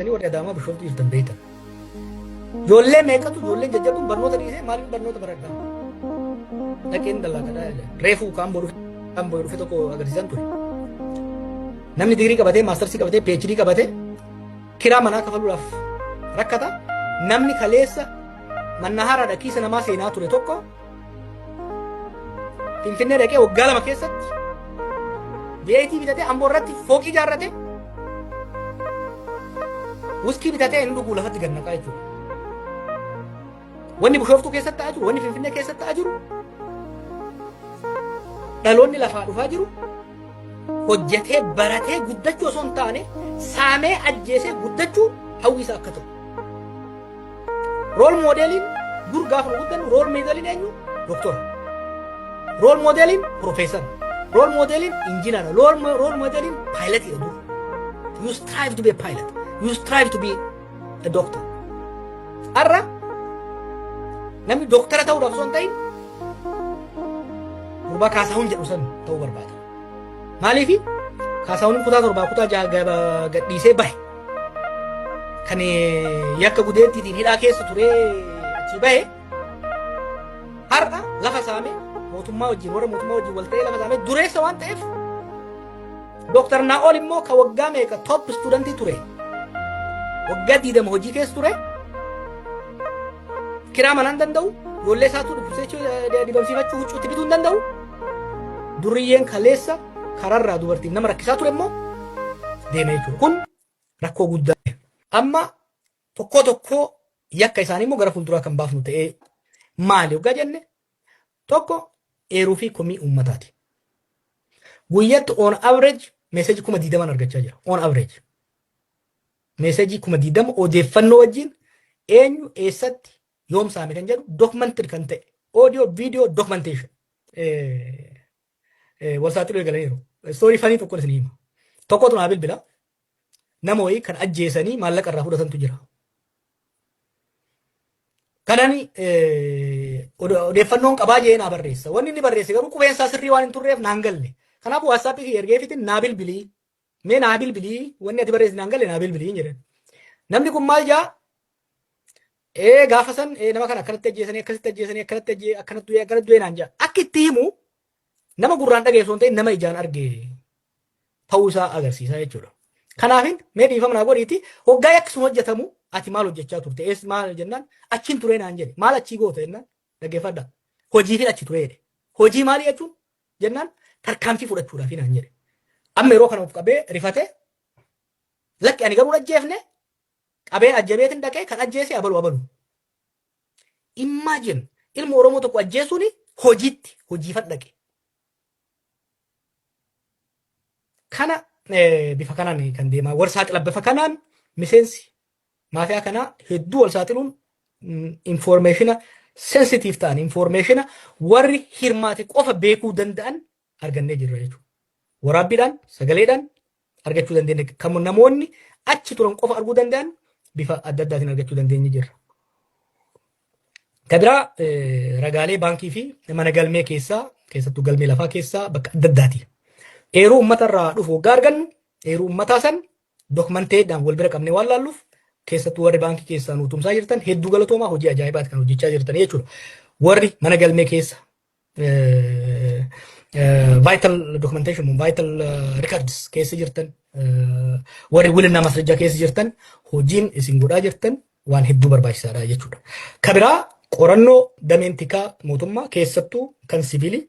Ani warri Adaamaa Bishooftuu jirtan beektan. Ijoollee meeqatu ijoolleen jajjabuun barnoota dhiisee maaliif barnoota baradhaa? Dhaqeen dallaagadhaa jedhe. Reefuu kaan boru kaan boru dhufe tokko agarsiisan ture. Namni digirii qabatee maastarsii qabatee PhD qabatee kiraa manaa kafaluudhaaf rakkata. Namni kaleessa mannahaaraadha kiisa namaa seenaa ture tokko Finfinnee dhaqee waggaa lama keessatti beetii bitatee amboo irratti fooqii ijaarrate wuskii bitatee hin dhuguu lafatti gad naqaa jechuudha. Wanni bushooftuu keessatti ta'aa jiru, wanni finfinnee keessatti ta'aa jiru, dhaloonni lafaa dhufaa jiru, hojjetee baratee guddachuu osoo hin taane saamee ajjeesee guddachuu hawwiisa akka ta'u. Rool moodeeliin dur gaafa nu guddannu rool moodeeliin eenyu? Doktora. Rool moodeeliin piroofeesara. Rool moodeeliin injinara. Rool moodeeliin paayilatiidha dur. You strive to be a pilot. You strive to be a doctor. Har'a namni doktara ta'uudhaaf osoo hin ta'in gurbaa kaasahuun jedhu san ta'uu barbaada. Maaliif Kaasaawwan kutaa torbaa kutaa ja'a gaba- gadhiisee bahe. Kan eh, yakka gudeettiitiin hidhaa keessa turee achii bahe. Har'a lafa saamee mootummaa wajjin warra mootummaa wajjin wal ta'ee lafa saamee dureessa waan ta'eef Dooktar Naa'ol immoo kan waggaa meeqa top istuudantii ture. Waggaa diidama hojii keessa ture. Kiraa manaa hin danda'u. Ijoollee isaatu dubbisee dibamsiifachuu huccuutti bituu hin danda'u. Durriyyeen kaleessa kararraa dubartiif nama rakkisaa ture immoo deemee jechuudha. Kun rakkoo guddaa. Amma tokkoo tokkoo yakka isaanii immoo gara fuulduraa kan baafnu ta'ee maali hoggaa jenne tokko eeruu fi komii uummataati. Guyyatti on average meeseejii kuma diidamaan argachaa jira. On average. Meeseejii kuma diidama odeeffannoo wajjin eenyu eessatti yoom saame kan jedhu documented kan ta'e audio video documentation wal saaxiluu eegalaniiru. Istoorii fanii tokkoon isin hima. Tokkotu naa bilbila nama wayii kan ajjeesanii maallaqa irraa fudhatantu jira. Kanan odeeffannoon qabaa jee naa barreessa. Wanni inni barreesse garuu qubeen isaa sirrii waan hin turreef naan galle. Kanaafuu waatsaappii kiyya ergeefiitiin naa bilbilii Mee naa bilbilii wanni ati barreessi naan galle naa bilbiliin jedhan. Namni kun maal jaa? Ee gaafa san ee nama kana akkanatti ajjeesanii akkasitti ajjeesanii akkanatti ajjee akkanatti du'ee akkanatti du'ee naan jaa. Akka itti himu nama gurraan dhageessu hin ta'in nama ijaan arge ta'uu isaa agarsiisa jechuudha. Kanaafin mee dhiifama naa godhiiti hoggaa yakki sun hojjetamu ati maal hojjechaa turte ees maal jennaan achiin turee naan jedhe maal achii goota jennaan dhaggeeffadha hojiifin achi turee jedhe hojii maalii jechuun jennaan tarkaanfii fudhachuudhaafi naan jedhe. Amma yeroo kana of qabee rifate lakki ani garuu hin ajjeefne qabeen ajjabeetin dhaqee kan ajjeese abalu abalu. Imagine ilma Oromoo tokko ajjeesuun hojiitti hojiifan dhaqe. Kana eh, bifa kanaan kan deemaa warsaa qilabbifa kanaan miseensi Maafiyaa kanaa hedduu wal saaxiluun infoormeeshina sensitiif ta'an infoormeeshina warri hirmaate qofa beekuu danda'an argannee jirra jechuudha. Waraabbiidhaan sagaleedhaan argachuu dandeenya kan namoonni achi turan qofa arguu danda'an bifa adda addaatiin argachuu dandeenye jirra. Kan biraa ragaalee baankii fi mana galmee keessaa keessattuu galmee lafaa keessaa bakka adda addaati. Eeruu uummatarraa dhufu waggaa argannu eeruu uummataa san Dokmanteedhaan wal bira qabnee waan laalluuf keessattuu warri baankii keessaa nu tumsaa jirtan hedduu galatoomaa hojii ajaa'ibaati kan hojjechaa jirtan jechuudha. Warri mana galmee keessa vital documentation vital records keessa jirtan warri wilinaa masrajaa keessa jirtan hojiin isin godhaa jirtan waan hedduu barbaachisaadha jechuudha. Kabiraa qorannoo dameen tikaa mootummaa keessattuu kan siviilii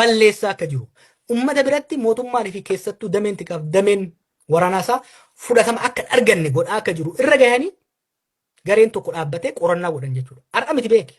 balleessaa akka jiru, ummata biratti mootummaan fi keessattuu dameen tikaa fi dameen waraanaa isaa fudhatama akka hin arganne godhaa akka jiru irra gahanii gareen tokko dhaabbatee qorannaa godhan jechuudha. Har'a miti beeki.